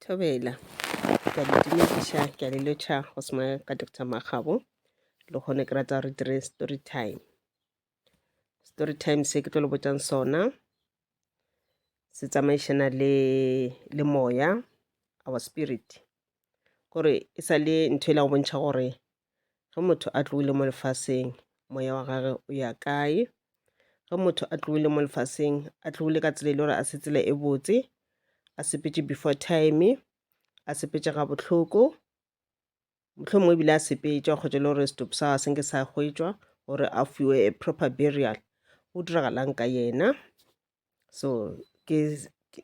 Thobela. Ke a le dumediša, ke a le lotšha go sengwe ka Doctor Makgabo. Le kgone ke rata re dire story time. Story time se ke tlo le botšang sona se tsamaišana le le moya our spirit gore e sa le ntho e la go bontšha gore Ge motho a tlogile mo lefaseng, moya wa gage o ya kae? Ge motho a tlogile mo lefaseng, a tlogile ka tsela e le gore a se tsela e botse, a sepetše before time, a sepetše ga bohloko, mohlomongwe ebile a sepetša kgotša e le gore setopo sa gagwe se nke sa hwetšwa gore a fiwe proper burial. Go diragalang ka yena? so ke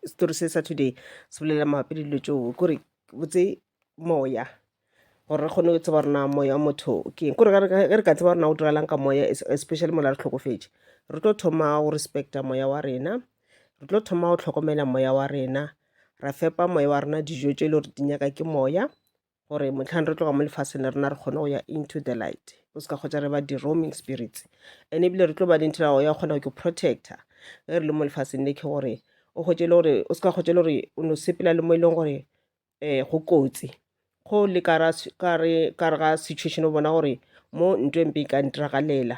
story se sa today se bolela mabapi le dilo tseo kore botse moya gore re kgone go tseba rena moya wa motho ke kore ge re ka tseba rena go diragalang ka moya especially mola re tlhokofetše re tlo thoma go respecta moya wa rena re tlo thoma go tlhokomela moya wa rena ra fepa moya wa rena dijo tše e le gore di nyaka ke moya gore motlhang re tloga mo lefaseng le rena re kgone go ya into the light o se ka kgotsa re ba di-roaming spirits and ebile re tlo ba le ntho ya kgona go ke protector ge re le mo lefaseng le ke gore o kgotse le gore o se ka kgotse le gore o no sepela le mo e leng gore um go kotsi go le ka re ga situation o bona gore mo ntho e mpe e ka ntiragalela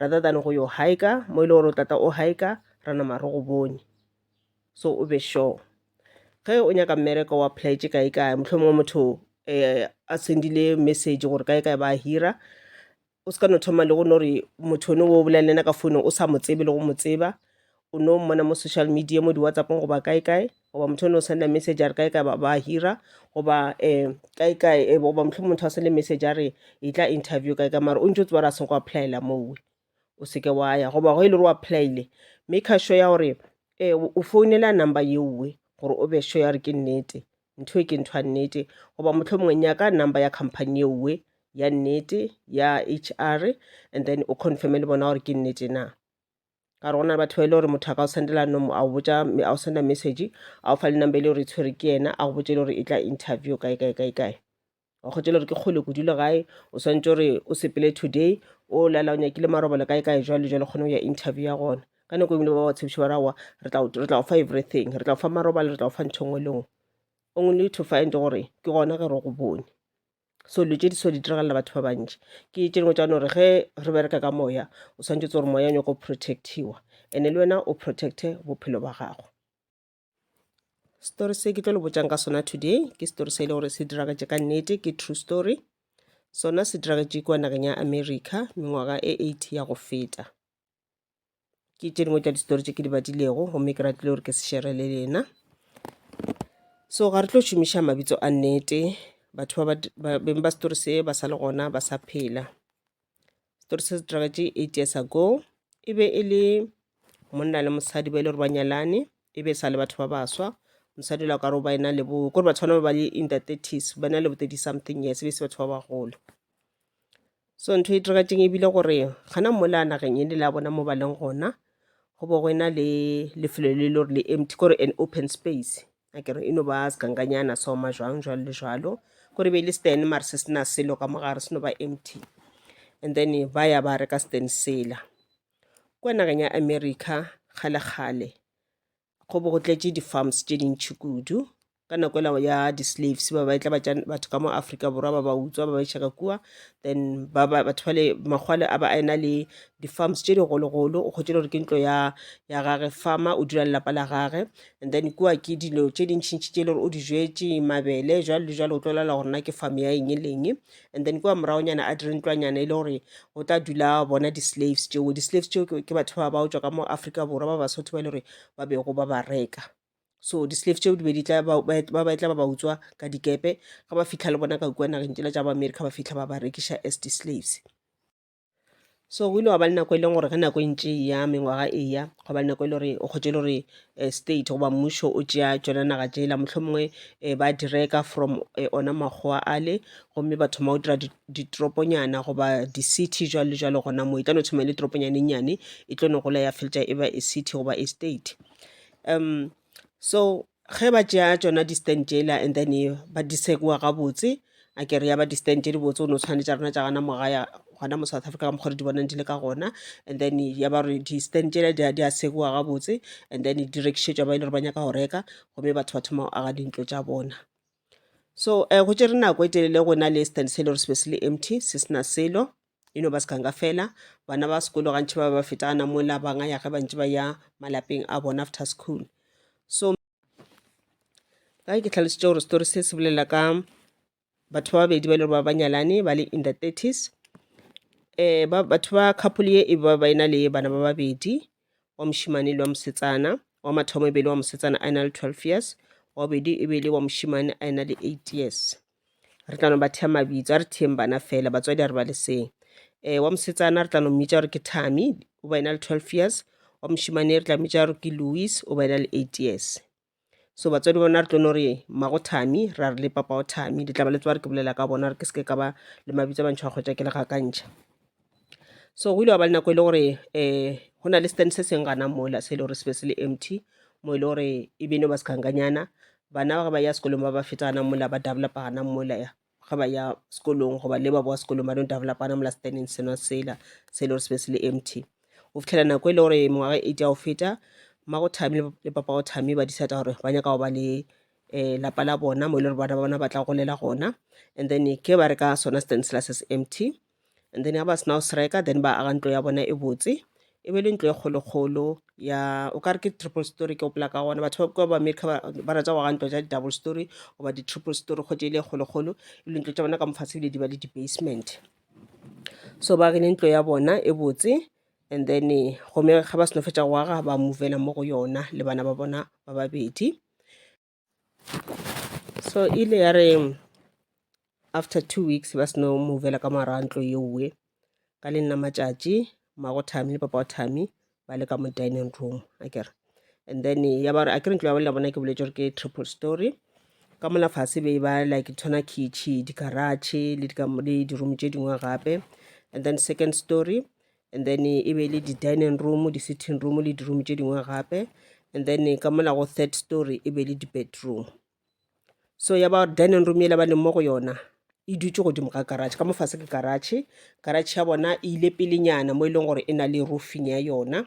rather than go yo hika mo e le gore o tlatla o hika ra nama re go bone so o be sure ge o nyaka mmereko wa pledge kae kae motlho mongwe motho um a sendile message gore kae kae ba hira o se ka no thoma le go no re motho one o bolelele ka founong o sa mo tsebe le go mo tseba o no mmona mo social media mo di-whatsappong goba kae kae goba motho o ne o senda message a re kae kae ba ba hira goba um kae kae eh, goba mohlomong motho a sende message a re e tla interview kae kae mara o ntse o tseba re a seng go applyela mowe o seke wa ya goba go e le gore o applyile make a sure ya gore um o founela number yeowe gore o be sure ya gore ke nnete ntho e ke ntho ya nnete goba motlho mongwe nyaka number ya company yeowe ya nnete ya h r and then o confirme le bona gore ke nnete na ka gore go na le batho ba e le gore motho a ka o sendela nomo a o botsa a o senda message a o fa le number e le gore e tshwere ke yena a go botse le gore e tla interview kae kae kae kae wa kgotse le gore ke kgole kudu le gae o swantse gore o sepele today o lala o nyakile marobalo kae kae jwale jwale kgone go ya interview ya gona ka nako engwe ba ba tshepiše ba rawa re tla re tla go fa everything re tla go fa marobalo re tla go fa ntho e nngwe le nngwe only to find gore ke gona ge re go bone so dilo tše di so di diragalela batho ba bantši ke tše dingwe tša gore ge re bereka ka moya o swantšhe tse gore moya o nyako protectiwa ene le wena o protecte bophelo ba gago story se ke tlo le botšang ka sona today ke story se e le gore se diragatše ka nnete ke true story sona se diragatše kua nageng ya america mengwaga e eight ya go feta ke tše dingwe tša distory tše ke di badilego gomme ke ratile gore ke se shere le lena so ga re tlo šomiša mabitso a nnete batho ba beng ba story se ba sa le gona ba sa phela story se se diragatše eight years ago e be e le monna le mosadi ba e le gore ba nyalane e be e sa le batho ba baswa mosadi la ka re o ba ena le bo kore batho bana ba ba le in the thirties ba na le bo thirty something years e be e se batho ba bagolo So ntho e diragetseng ebile gore gana mola nageng e ne le a bona mo ba leng gona go bo go ena le lefelo le le gore le empty kore an open space a kere e no ba segankanyana soma jwang jwalo le jwalo kore be e le stand mare se sena selo ka mogare se no ba empty and then ba ya ba reka stand sela kwa nageng ya america kgale-kgale go bo go tletše di-farms tše dintšhi kudu ka nako ela ya di-slaves ba ba etla batša batho ka mo afrika borwa ba ba utswa ba ba iša ka kua then ba ba batho bale makgwale a ba a ena le di-farms tše digologolo o kgotše gore ke ntlo ya ya gage farmer o dula lelapa la gage and then kua ke dilo tše dintšhintšhi tše e le gore o di jwetše mabele jwalo le jwalo o tlo lala gore na ke farm ya eng e leng and then kua moragonyana a dire ntlwanyana e le gore go tla dula bona di-slaves tšeo di-slaves tšeo ke batho ba ba otswa ka mo afrika borwa ba basotho ba e le gore ba bego ba ba reka so di-slave tšeo di be di tla ba ba tla ba ba utswa ka dikepe ga ba fitlha le bona ka kua nageng tšela tša ba america ba fitlha ba ba rekiša as di-slaves so o ile wa ba le nako e leng gore ge nako e ntše e ya mengwaga e ya go ba le nako e le gore o kgotse e le gore eh, state goba mmušo o tšea tšona naga tšela mohlomongwe um ba direka from eh, ona makgowa ale gomme ba thoma go dira di- ditoroponyana goba di-city jwalo le jwalo gona moo e tla no thoma e le toroponyane nnyane e tlo no gola ya feltša e ba e city goba e state um so Ge ba tšea tšona di stand tšela and then ba di sekiwa gabotse a kere ya ba di stand tše di botse o no tshwane tša rena tša gana mogaya gona mo South Africa ka mokgwa di bonang di le ka gona and then ya ba gore di stand tšela di a sekiwa gabotse and then di rekišetšwa ba e le gore ba nyaka go reka gomme batho ba thoma go aga dintlo tša bona so um go tšere nako e telele go na le stand se e le gore se be se le empty se sena selo e no ba sekanka fela bana ba sekolo gantši ba ba feta gana mola banga ya ge bantši ba ya malapeng a bona after school so ka ke tlhalositše gore story se se bolela ka batho ba babedi ba e le gore ba banyalane ba le in the thirties um ba batho ba couple ye e ba ba ena le bana ba babedi wa mošimane le wa mosetsana wa mathomo e be le wa mosetsana a ena le twelve years wa bobedi e be le wa mošimane a ena le eight years re tla no ba thea mabitso a re theeng bana fela batswadi a re ba leseng um wa mosetsana re tla no mmitša gore ke tami o ba ena le twelve years wa mošimane re tla mmitša gore ke louis o ba ena le eight years so batswadi bona re tlo no re mmago tami ra re le papago tami le tla ba le tsewa re ke bolela ka bona re ke seke ka ba le mabitso a mantšho a kgwetša ke le gakantšha so go ile wa ba le nako e le gore um go na le stand se seng gana mola se e le gore se be se le empty mo e le gore e beno ba sekhankanyana bana ba ge ba ya sekolong ba ba feta gana mola ba developa gana mola ya ge ba ya sekolong goba le ba boa sekolong ba no developa gana mola standing sena sela se e le gore se be se le empty go fitlhela nako e le gore mengwaga e ja go feta mmago thami le papago thami ba disata gore ba nyaka go ba le um lapa la bona mo e le gore bana ba bona ba tla golela gona and then ke ba re ka sona stand sela se se empty and then ga ba sena go se reka then ba aga ntlo ya bona e botse e be le ntlo e kgolokgolo ya o kare ke triple story ke gopola ka gona batho ba kua ba america ba rata go aga ntlo tša di-double story goba di-triple story kgotse e le e kgolokgolo e le ntlo tša bona ka mofatshe ebile di ba le di-basement so ba agile ntlo ya bona e botse and then gome ga ba seno fetsa go aga ba movela mo go yona le bana ba bona ba babedi so ile ya re after two weeks ba seno movela ka morago ntlo yeowe ka le nna matšatši mago thami le papa wa thami ba le ka mo dining room a kere and then ya ba re a kere ntlo ya bone ya bona ke boletse gore ke triple story ka mola fase be ba like tshwana kitšhi dikaratšhe le di-room tše dingwe gape and then second story and then e be e le di-dining room di-sitting room le di-room tše dingwe gape and then ka mola go third story e be le di-bedroom so ya ba dining room e le ba leng mo go yona e dutse godimo ga garage ka mofase ke garage garage ya bona e ile pelenyana mo e leng gore e na le roofing ya yona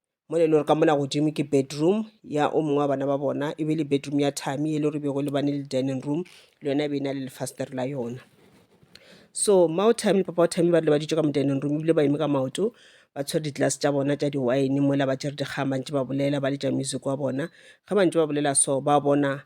mo le lore ka mona godimo ke bedroom ya o mongwe wa bana ba bona e be le bedroom ya thami e le gore bego le bane le dining room le yona e be e na le lefastere la yona so mao thami le papa wa thami ba rile ba ditso ka mo dining room ebile ba eme ka maoto ba tshwere di-glass tša bona tša di-wine mola ba tšere dikgama ntse ba bolela ba letša music wa bona ge ba ntse ba bolela so ba bona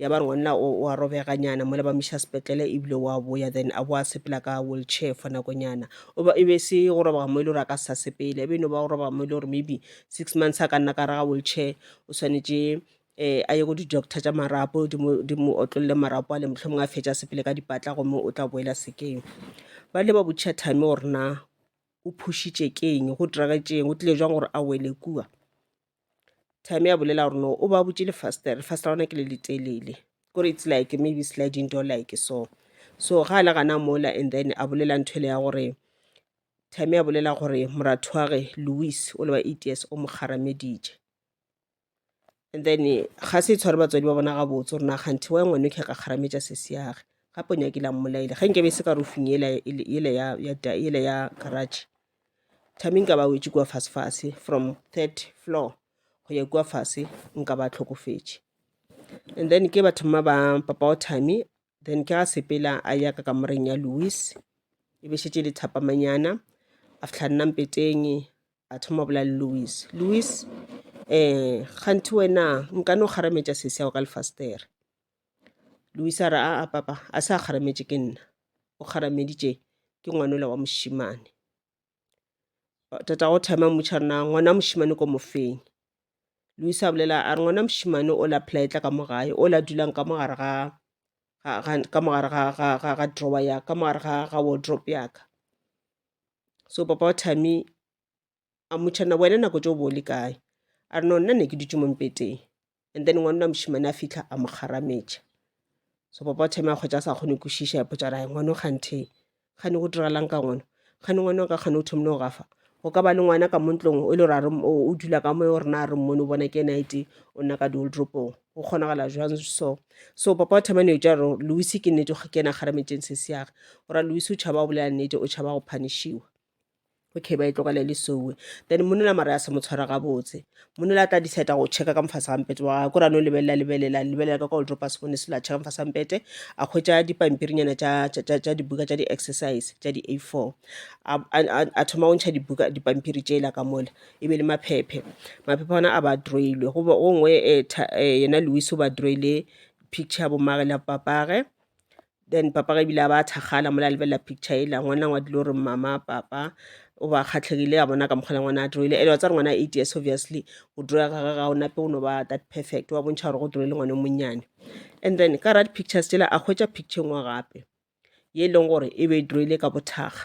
ya ba ngwanna o wa robeganyana mola ba miša sepetlele ebile wa boya then a boa sepela ka wheelchair for nakonyana e be se go robega mo e le gore a ka sa sepele e be no ba go robega mo e le gore maybe six months a ka nna ka raga wheelchair o swanetše um a ye go di-doctor tša marapo di mo otlolole marapo a le motlho mongwe a fetša sepele ka dipatla gomme o tla boela sekeng ba le ba botšha time gore na o phušitše ke eng go diragetšeng o tlile jwang gore a wele kua time ya bolela gore no o ba butše lefastere lefastere la gona ke le letelele kore it's like maybe sliding door like so so ga a le gana mola and then a bolela ntho ele ya gore time ya bolela gore moratho wa ge louis o le wa eight years o mo kgarameditše and then ga se tshware batswadi ba bona gabotse gore na kganthe wa ngwane o kgeka kgarametša sesi yage gape o nyakile a mmolaile ge nke be e se ka rofing ele ya garage time nka ba wetše kua fasefase from third floor go ya kua fase nka ba tlhokofetše and then ke ba thoma ba papa wa time then ke ga sepela a ya ka kamoreng ya louis e be šetse le thapamanyana a fitlha nna mpeteng a thoma bola le louis louis um kganthe wena nka no kgarametša sese yago ka lefastere Luisa a re, Aa, papa, a se a kgarametše ke nna, o kgarameditše ke ngwanola wa mošemane. Tatago Thema a mmotšiša a re, Na ngwana wa mošemane ke o mo feng? Luisa a bolela a re, Ngwana wa mošemane o la phela a etla ka mo gae, o la dulang ka mo gare ga ka mo gare ga drawer ya ka mo gare ga wardrobe ya ka. So papa wa Thami a mmotšha na wena nako tšeo bo o le kae a re no nna ne ke dutše mo mpeteng and then ngwanona mošimane a fitlha a mo kgarametša so papa o thome a kgwetša a sa kgone kwešiša ya potšara ya ngwano kganthe kgane go diragalang ka ngwana kgane ngwana o ka kgane o thomile go gafa go ka ba le ngwana ka montlong e le gore o dula ka moe o rena a re mmone o bona ke ena ete o nna ka dioldropong go kgonagala jwang so so papa o thomane o ja gore lewise ke nnete ke ena kgarametšeng se seage o ra lewise o tšhaba go bolela nnete o tšhaba go phanishiwa okay ba e tlogela le sowe then monela mara ya se mo tshwara gabotse monela a tla decide go checka ka mofase ga mpete wa ko rano lebelela lebelela lebelela ka kwa oldro pass phone selo a checka mofase ga mpete a hwetša dipampirinyana tša dibuka tša di-exercise tša di-a four a thoma go ntšha dibuka dipampiri tšela ka mola e be le maphephe maphephe ona a ba droilwe go ngwe eh, eh, yena louis o ba droile picture ya bomage le ya papage Then papa ga ebile a ba thakgala mola a lebelela picture ela ngwana ngwa dilo re mama papa o ba kgatlhegile a bona ka mokgwa le ngwana a droile ele wa tsa re ngwana eight years obviously go droya ga ga o nape o no ba that perfect wa bontšha gore go droile ngwana o monnyane and then ka ra di-pictures tsela a hwetša picture e nngwe gape ye e leng gore e be e droile ka bothakga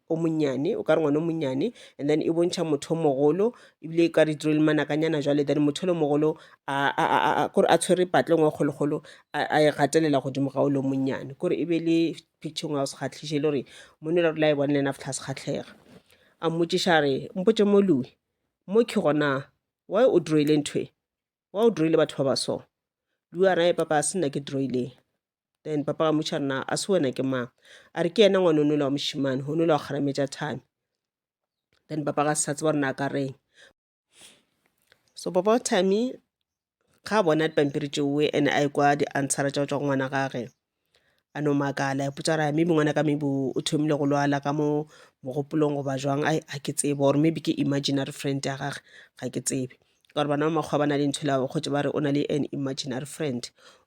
o monnyane o ka re ngwana o monnyane and then e bontšha motho o mogolo ebile e ka re diro le manakanyana jwale then motho le mogolo kore a tshwere patle ngwe kgolokgolo a e gatelela godimo ga o le monnyane kore e be le picture ngwe ya go se kgatlhiše e le gore mone le rela e bone le ena fitlha se kgatlhega a mmotšiša re mpotše moloi mo ke gona why o droile ntho e wa o droile batho ba ba so lu a rae papa a se nna ke droile then papa ga motšha nna a se wena ke mang a re ke ena ngwane o nole wa mošimane go nole wa kgarametša thami then papa ga se sa tseba rena a ka reng so papa wa thami ga a bona dipampiri tšeoe and a ekwa di-answera tša go tswa go ngwana gage a no makala a ipotsa gore "Ai, maybe ngwanaka maybe o o thomile go lwala ka mo mogopolong goba jwang ai ga ke tsebe or maybe ke imaginary friend ya gage ga ke tsebe ka gore bana ba makgowa ba na le ntho ela ba kgotse ba re o na le an imaginary friend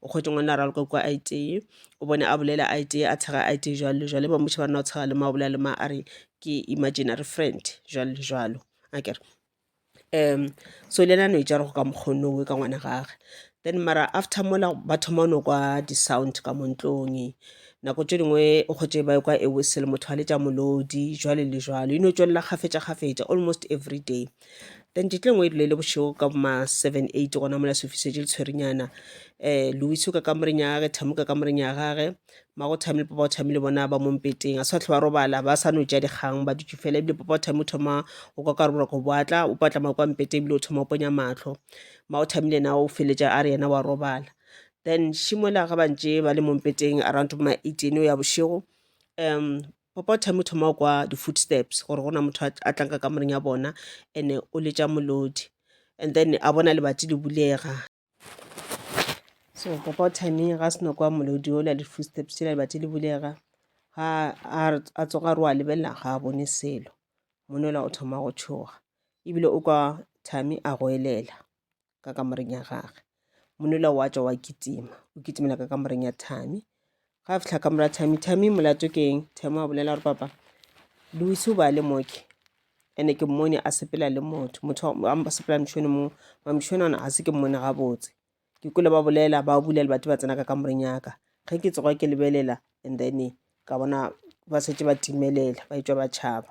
o kgotse ngwana a raloka kua a itee o bone a bolela a itee a tshega a itee jwalo le jwalo e ba mmotšiša ba re na o tshega le ma o bolela le ma a re ke imaginary friend jwalo le jwalo akere um so le yena a no e tšere go ka mokgwa o nowe ka ngwana gage then mara after mola ba thoma go no kwa di-sound ka mo ntlong nako tše dingwe o kgotše ba ekwa a whistle motho a letša molodi jwalo le jwalo e no tšwelela kgafetša kgafetša almost everyday. Then tšatši le lengwe e rile e le bošego ka bo ma seven, eight gona mola sefifi se tše le tshwerinyana um Lewis o ka kamoreng ya gage, Thami o ka kamoreng ya gage, mmago o thabile papa o thabile bona ba mo mpeteng a sa tlhe ba robala ba sa no ja dikgang ba dutše fela ebile papa o thabile o thoma o kwa ka roboroka go boatla o patla ma kwa mpeteng ebile o thoma o ponya matlho mma o thabile na o feletša a re yena wa robala then šimola ga bantše ba le mo mpeteng around ma eight eno ya bošego um papa o thabile o thoma o kwa di-footsteps gore go na motho a- a tlang ka kamoreng ya bona and-e o letša molodi and then a bona lebati le bulega so papa o timing ga seno kwa molodi ola le footsteps tšela lebati le bulega ga a tsoga re wa lebelela ga a bone selo monola o thoma go tšhoga ebile o kwa thami a go elela ka kamoreng ya gage monola wa tšwa wa kitima o kitimela ka kamoreng ya thami ga a fitlha ka mora thami thami molato ke eng thami a bolela gore papa luse o ba le moke ene ke mmone a sepela le motho motho a sepela mšone mo mamšone ona ga se ke mmone gabotse ke kole ba bolela ba bula le batho ba tsena ka kamoreng yaka ge ke tsoga ke lebelela and then ka bona ba setse ba timelela ba etswa ba tšhaba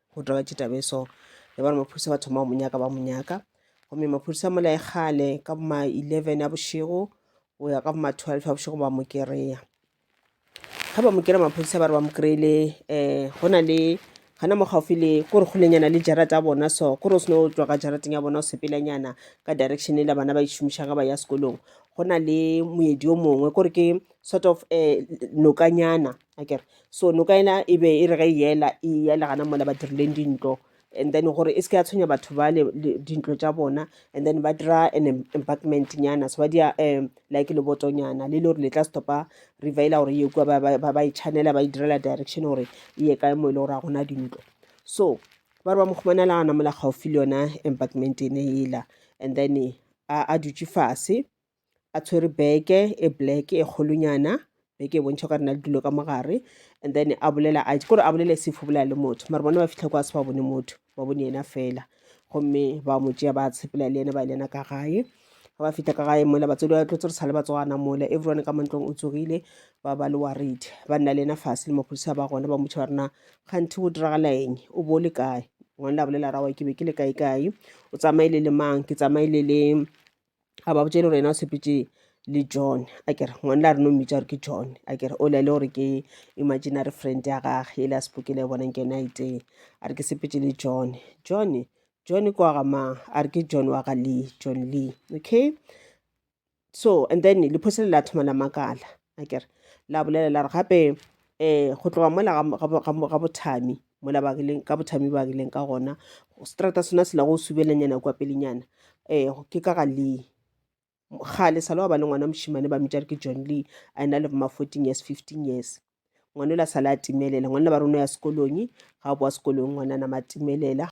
go taba taba e so ya bana maphodisa ba thoma go mo nyaka ba mo nyaka gomme maphodisa a molae kgale ka boma 11 a bošego go ya ka boma 12 a bošego ba mo kereya ga ba mo kere maphodisa ba re ba mo kry-ile um eh, go na le gana mo gaufi le ko re golenyana le jarata ya bona so ko re o sene o tswa ka jarateng ya bona o sepelanyana ka direction e la bana ba išomišang ga ba ya sekolong go na le moedi o mongwe ko re ke sort of um nokanyana a kere so noka ena e be e re ge e yela e yela gana mola ba dirileng dintlo and then gore e se ke ya tshwenya batho ba le le- dintlo tša bona and then ba dira an em- embankment nyana so ba dia um like lebotonyana le le gore le tla stopa river ela gore ye kua ba- ba ba- ba e channela ba e direla direction gore e ye kae mo e le gore ga gona dintlo so ba re ba mo humana le gana mola gaufi le yona embankment ene ela and then a a dutše fase a tshwere beke e black e kgolonyana beke e bontšha o ka rena le dilo ka mogare and then a bolela a kore a bolela sefo bolela le motho mare bona ba fitlha kwa se ba bone motho ba bone yena fela gomme ba mo tšea ba tshepela le ena ba lena ka gae ga ba fitlha ka gae mola batswadi ba tlotse re sa le batswana mola everyone ka mantlong o tsogile ba ba le worried ba nna le ena fase le maphodisa ba gona ba motšha ba rena kganthe go diragala eng o bo o le kae ngwane la bolela rawa ke be ke le kae kae o tsamaile le mang ke tsamaile le a ba botse e le gore yena o sepetse le john a kere ngwane la rena o mmitsa gore ke john a kere o le le gore ke imaginary friend ya gage e le a sepokele bonang ke yone a itee a re ke sepetse le john john john ke wa ga mang a re ke john wa ga lee john lee okay so and then lephosele la thoma la makala a kere la bolela la re gape um go tloga mola ga bothami mola ba rileng ka bothami ba rileng ka gona strata sona se la go subelanyana kwa pelenyana um ke ka ga lee gale sa le wa ba le ngwana mošimane ba mmitša re ke john lee a ena le boma fourteen years fifteen years ngwana o la sala a timelela ngwana ba rona ya sekolong ga boa sekolong ngwana nama timelela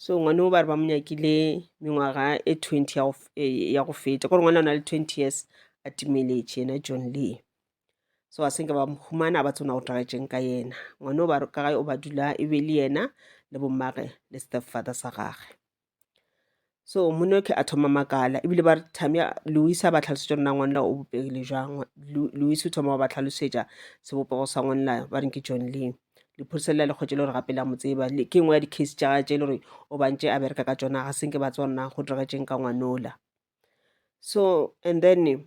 so ngwane o ba re ba mo nyakile mengwaga e 20 ya go feta kore ngwana o na le 20 years a timeletše yena john lee so a senke ba mhumana ba tsona go twagetšeng ka yena ngwane o ba ka gae o ba dula e be le yena le bommage le stepfather sa gage so monyoke a thoma makala ebile ba re tamia lewis a ba tlhalosetša rona ngwanela o bopegile jang lewis o thoma wa ba tlhalosetša sebopego sa ngwanela ba reng ke john lee lephodisa lela le kgwetše le gore gape la mo tseba ke nngwe ya di-case tša gae tše e le gore o bantše a bereka ka tsona ga senke ba tswa rona go diregetseng ka ngwanola so and then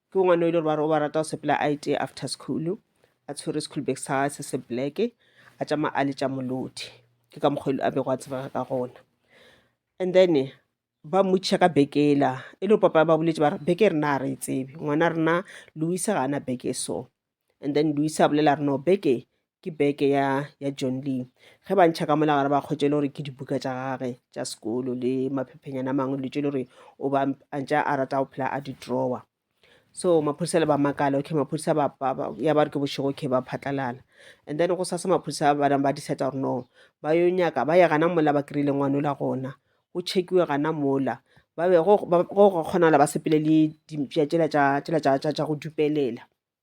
Ke ngwana o ile gore ba re o ba rata go sepela a ete after school a tshwere school bag sa gagwe se se black a tšama a le tša molodi ke ka mokgwa a bego a tsebega ka gona and then ba mmotšiša ka beke ela e le papa ba boletse ba re beke rena a re e tsebe ngwana rena louise ga ana beke so and then Luis a bolela re no beke ke beke ya ya John Lee ge ba ntšha ka mola gare ba kgwetše le gore ke dibuka tša gage tša sekolo le maphephenyana a mangwe letse le gore o ba a ntša a rata go phela a di-drawer so maphodisa le ba makala okay maphodisa ba ba- ba- ya ba re ke bošego okay ba phatlalala and then go sasa maphodisa ba nang ba decide gore no ba yo nyaka ba ye gana mola ba kry-ile ngwane ola gona go checkiwe gana mola ba be go go- go kgonala ba sepele le dimpša tšela tša tšela tša- tša- tša go dupelela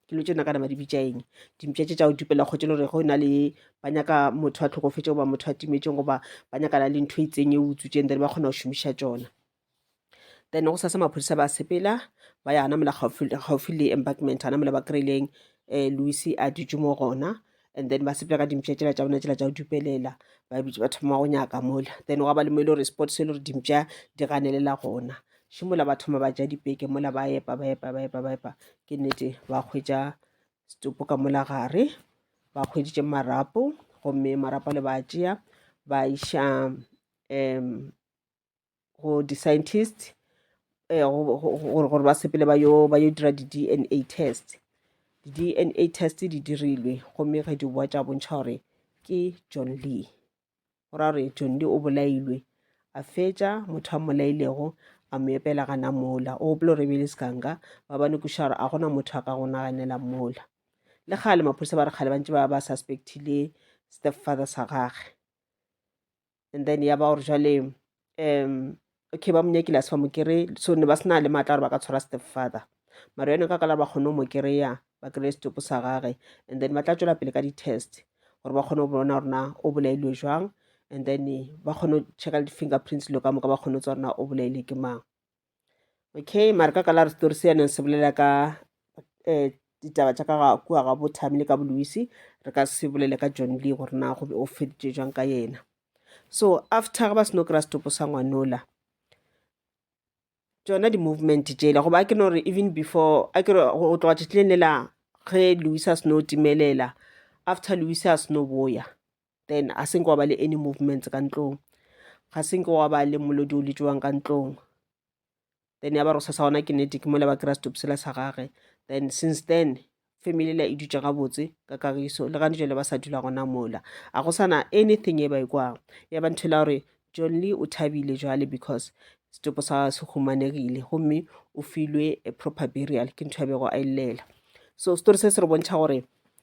dilo tše nakana ba di bitša eng dimpša tše tša go dupela kgotse le gore go na le ba nyaka motho a tlhokofetse goba motho a timetšeng goba ba nyakana le ntho e itseng e utsu tšeng then ba kgona go šomiša tsona then go sasa maphodisa ba sepela ba ya anamela gaufi le embarkment anamela ba kry-ileng um eh, louis a dutše mo gona and then ba sepela ka dimpša tšela tša bona tšela tša go dupelela ba bitse ba thoma go nyaka mola then gwa ba le mo e le gore sport se e le gore dimpša di ganelela gona še mola ba thoma ba ja dipeke mola ba epa ba epa ba epa ba epa ke nnete ba kgwetsa setopo ka mola gare ba kgweditše marapo gomme marapo le ba tšea ba iša um go di-scientist eh, gore ba sepele ba yo dira di-dna test di-dna test di dirilwe gomme ge di boa tša bontšha gore ke john lee go ra gore john lee o bolailwe a fetša motho a mmolailego a mo epela gana mola o gopolo re bele sekanka ba ba nekoša gore a gona motho a ka go naganela mola le kgale maphodisa ba re kgale ba ntse ba ba suspectile step father sa gage and then ya ba gore jale um okay ba monyakile a se ba mo kry so ne ba sena le maatla gore ba ka tshwara step father mara yone ka kala ba kgone go mo kry-a ba kry-e setopo sa gage and then ba tla tswela pele ka di-test gore ba kgone go bona gorena o bolailwe jwang and then ba kgone go checka le di-fingerprints lo ka moka ba kgone go tsa gorena o bolaile ke mang okay mare ka kala re setori se yaneng se bolela ka um ditaba tša ka ga kua ga bothami le ka boluisi re ka se bolele ka john lee gore na go be o feditše jwang ka yena so after ga ba seno kry-a setopo sa ngwanola tsona di-movement jela goba a ke no gore even before a ke go tloga tšetleng lela ge louisa seno timelela after louisa a seno boya then a se nke wa ba le any movements ka ntlong ga se nke wa ba le molodi o letšewang ka ntlong then ya ba re sa sa gona kinetic mo le ba kry-a stop sela sa gage then since then family la e dutše gabotse ka kagiso le gane jale ba sa dula gona mola a go sana anything e ba e kwang ya ba ntho la gore john lee o thabile jale because setopo sa se humanegile gomme o filwe a proper burial ke ntho ya bego a e llela so story se se re bontšha gore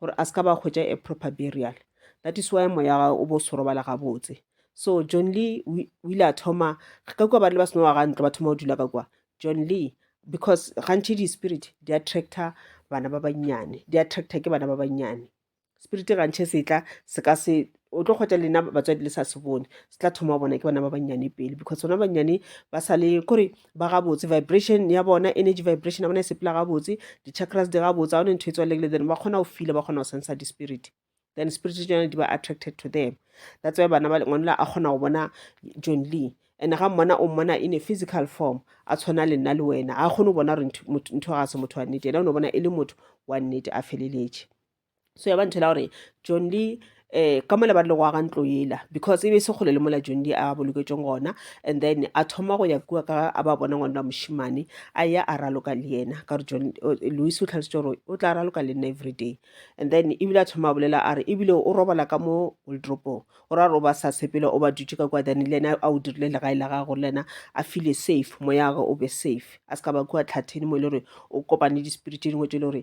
gore a se ka ba hwetša a proper burial that is why moya gae o bo se robala gabotse so john lee o ile a thoma ka kua ba rile ba seno wa ga ntlo ba thoma go dula ka kua john lee because gantšhi di-spirit di attractor bana ba bannyane di attractor ke bana ba bannyane spirit gantšhe se tla se ka se o tlo kgwetsa lena batswadi le sa se bone se tla thoma bona ke bana ba bannyane pele because bona bannyane ba sa le kore ba gabotse vibration ya bona energy vibration ya bona e sepela gabotse di-chakras di gabotse ga one ntho e tswalekile then ba kgona go fila ba kgona go sensa di-spirit then spirit tsone di ba attracted to them that's why bana ba ngwanela a kgona go bona john lee and ga mmona o mmona in a physical form a tshwana le nna le wena ga kgone go bona gore ntho ga se motho wa nnete ena o ne bona e le motho wa nnete a feleletše so ya ba ntho la gore john lee eh ka mola ba rile go aga ntlo yela because e be e se kgole le mola john lee a boloketsweng gona and then a thoma go ya kua ka a ba bona ngwana wa mošimane a ya a raloka le yena ka gore john louis o tlhalositse gore o tla raloka le nna every day and then ebile a thoma a bolela a re ebile o robala ka mo wildropong o ra gore o ba sa sepela o ba dutse ka kua then le ena a o dirile legae la gago le ena a file safe moya gage o be safe a se ka ba kua tlhatheni mo e le gore o kopane di-spirit tse dingwe tse e le gore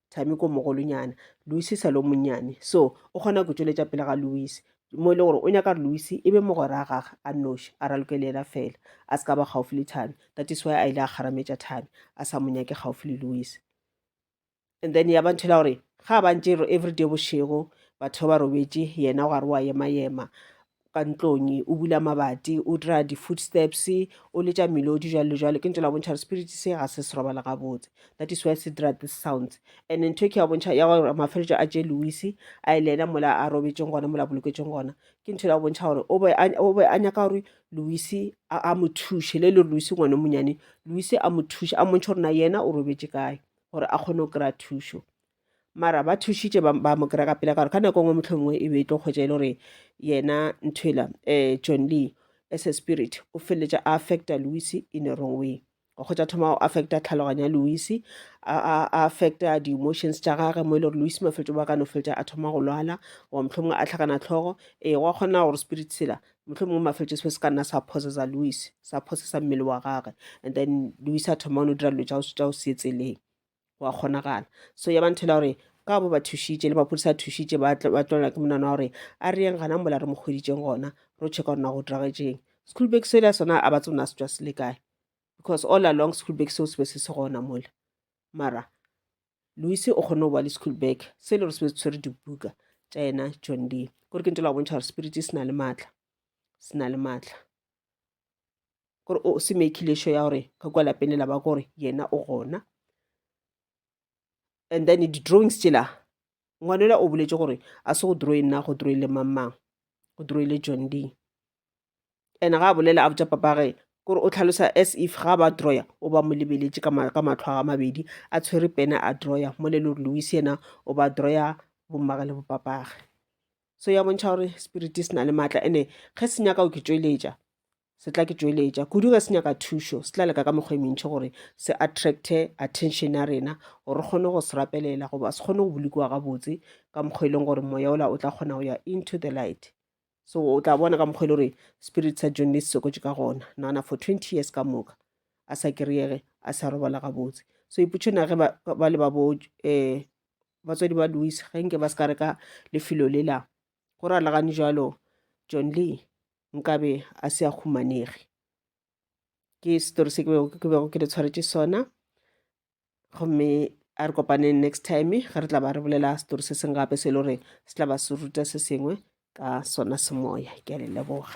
Thami ko mogolonyana, Lucy sa lo monnyane. So, o kgona ku tšweletša pele ga Lucy, mo e le gore o nyaka gore Lucy e be mogwera a gage a nnoši, a raloke le yena fela, a se ka ba gaufi le Thami. That is why a ile a kgarametša Thami, a sa mo nyake gaufi le Lucy. And then ya ba ntho e la gore ga ba ntše everyday bošego batho ba robetše yena gare wa ema-ema ka ntlong o bula mabati o dira di-food steps o letša melodi jalo le jalo ke ntho la bontšha gore spirit se ga se se robala gabotse that is why se dira this sounds and ntho e ke ya bontšha ya gore mafeletšo a je louis a e le ena mola a robetšeng gona mola boloketseng gona ke ntho la bontšha gore o be a nyaka gore louis a mo thuše le le re louis ngwane monyane louis a mo thuše a montšha gore na yena o robetše kae gore a kgone go kry-a thušo mara ba thušitše ba, ba mo kry ka pela ka gore ka nako ngwe mohlomongwe e be e tlo kgwetša e le gore yena nthwela um eh, john lee as a spirit o feleletša a affecta louis in a wrong way go kgwetša thoma go affecta tlhaloganyo ya louis a affecta di-emotions tša gage mo e le gore louis mafeletso ba ka no feletša a thoma go lwala goba mohlomongwe a tlhakana tlhogo ee eh, gwa kgona gore spirit sela mohlomongwe mafeletso se se ka nna sa possesa louis sa possesa mmele wa gage and then louis a thoma o no dira dilo tša go se tseleng wa kgonagala so ya ba nthela gore ka bo ba thušitše le maphodisa a thušitše ba tlolela ke monana wa gore a re yeng gana mola re mo kgweditšeng gona ro checka gore na go diragetšeng school bag sela sona a ba tsona se tswa se le kae because all along school bag seo se be se se gona mola mara louise o kgone go ba le school bag se e le gore se be se tshwere dibuka tša yena john lee kore ke ntela go bontšha gore spirit se na le maatla se na le maatla gore o se mekile sure ya gore ka kwa lapeng le laba gore yena o gona and then di-drawings tsela ngwanela o boletse gore a se go drawe nna go drawe le mang mang go drawe le john lee and ga a bolela a botsa papage kore o tlhalosa as if ga ba drawer o ba mo lebeletse ka matlho a mabedi a tshwere pena a drawer mo le le gore louis ena o ba drawer bommage le bopapage so ya bontšha gore spiriti se na le maatla ene ge se nyaka go ke tšweletša se tla ke tšweletša kudu ge se nyaka thušo se tla leka ka mokgwa e mentšhi gore se attracte attention ya rena gore re kgone go se rapelela goba se kgone go bolokiwa gabotse ka mokgwa e leng gore moya ola o tla kgona go ya into the light so o tla bona ka mokgwa e le gore spirit sa john le se sokotše ka gona nagana for twenty years ka moka a sa kry-ege a sa robala gabotse so ipotšhona ge ba le ba bo um batswadi ba Louis ge nke ba se ka reka lefelo le la go ralagane jalo John Lee nkabe a se a humanege ke story se ke bego ke le tshwaretše sona gomme a re kopane next time ge re tla ba re bolela story se seng gape se e le gore se tla ba se ruta se sengwe ka sona semoya ke a le leboga